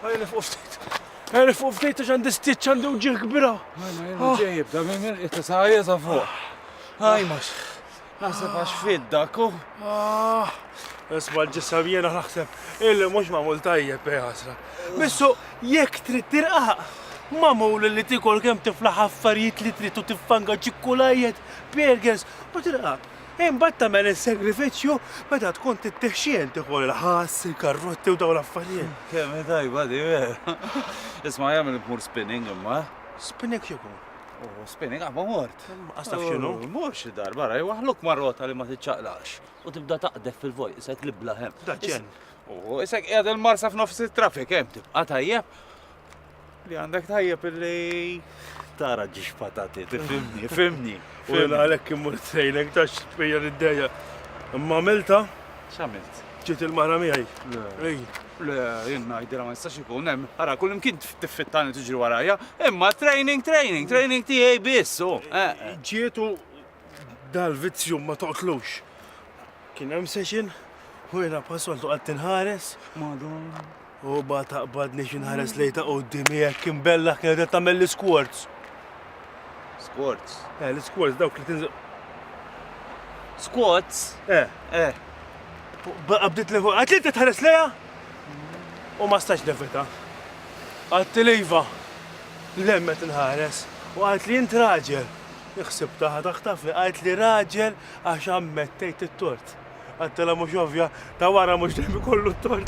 Għaj nifqu ftit. Għaj nifqu ftit għax għandi stitch għandi uġieħ kbira. Għajna ġejib, da minn minn itta saħja sa fuq. Għaj max. Għasab għax fidda, ku. Ah. Isma l-ġissam jena naħseb, illi mux mamul tajjeb eh, għasra. Missu, jek trid tirqaq, mamul li tikol kem tiflaħ affarijiet li trid u tiffanga ċikkulajjet, burgers, u tirqaq. Imbagħad tagħmel is-sagrifiċċju meta tkun tittieħ xiehel tieħu l-ħass, il-karrotti u dawn l-affarijiet. Kemm hi tajba di, vera! Isma' jagħmel li tmur spinning imma. Spinning x'ikun? Oh, spinning qabad mort. Inqas taf x'inhu? Mur xi darba ara jwaħħluk ma' rota li ma tiċċaqlaqx u tibda taqdef fil-vojt isek li bla hemm. Daċċen. Oh, isek qiegħed il-marsa f'nofs it-traffic hemm tibqa' tajjeb. Li għandek tajjeb li tara ġiex patati, tifimni, fimni. U għalek kimmur t-sejlek ta' xpija l-iddeja. Imma milta? Xamilt? ġiet il-mara miħaj. Ej, le, jenna jdira ma nistax ikun hemm. Ara, kull imkien tiffittani tiġri warajja, imma training, training, training tiegħi biss. Oh, eh, eh. Ġietu dal-vizzju ma toqtlux. Kien hemm session, u jena passoltu għad tinħares. Madonna. U ba taqbadni xi nħares lejn ta' quddiem hekk imbella kienet qed tagħmel l-isquarts. Squarts? Eh, l-isquarts dawk li tinżel. Squats? Eh. Eh. Baqa bdiet li fuq. Għatli qed tħares lejha? U ma stax nevita. Għatti lejva. Lemmet inħares. U għalt li jint raġel. Iħsib taħ taħtafni. Għalt li raġel għax ammettejt it-tort. Għattela mhux ovvja, ta' wara mhux dejjem ikollu t-tort.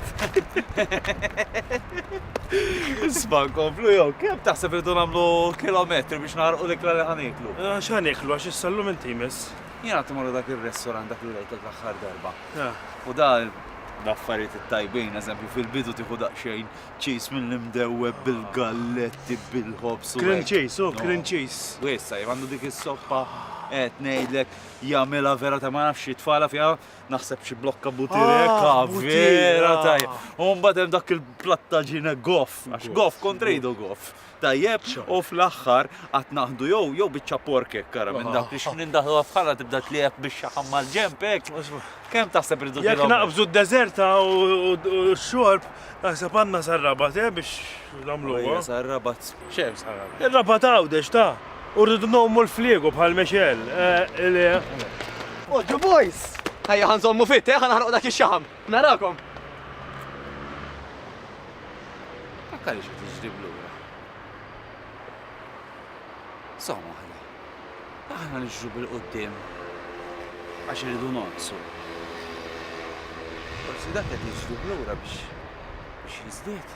Isma' nkomplu jew kemm taħseb irridu nagħmlu kilometri biex naħarqu l-ikla li ħaniklu? Ah, x'ħaniklu għax issa llum inti jmiss. Jien għad immorru dak ir-restorant dak li rejtek l-aħħar darba. Ah. U da l-affarijiet it-tajbin, eżempju fil-bidu tieħu daqsxejn ċis mill-imdewweb bil-galletti, bil-ħobż u. Cream cheese, u cream cheese. U issa jien għandu dik is-soppa qed ngħidlek jagħmilha vera ta' ma nafx jitfala fiha naħseb xi blokka butireka ah, vera tajja. U mbagħad hemm dak il-plattaġina goff, għax goff kontrejdu goff. Tajjeb, u fl-aħħar qatt naħdu jew jew biċċa porkek kara minn dak li xmin daħlu bħala tibda tlieb biex xaħam mal-ġemp hekk. Kemm taħseb irridu Jekk naqbżu d-deżerta u x-xorb, naħseb għandna sarrabat eh, biex nagħmlu. Sarrabat. Ir-raba' ta' Għawdex ta! U rridu ngħummu l-fliegu bħal Mexel, eħ. Oġġu boys! Ejja ħa nżommu fit, eħ, ħa naħrqu dak ix-xaħam. Narakom! Fakkarni xi ftit x'ġrieb lura. Żomm waħda. Aħna niġru bil-quddiem għax irridu nonqsu. Forsi dak qed jiġri lura biex jiżdied.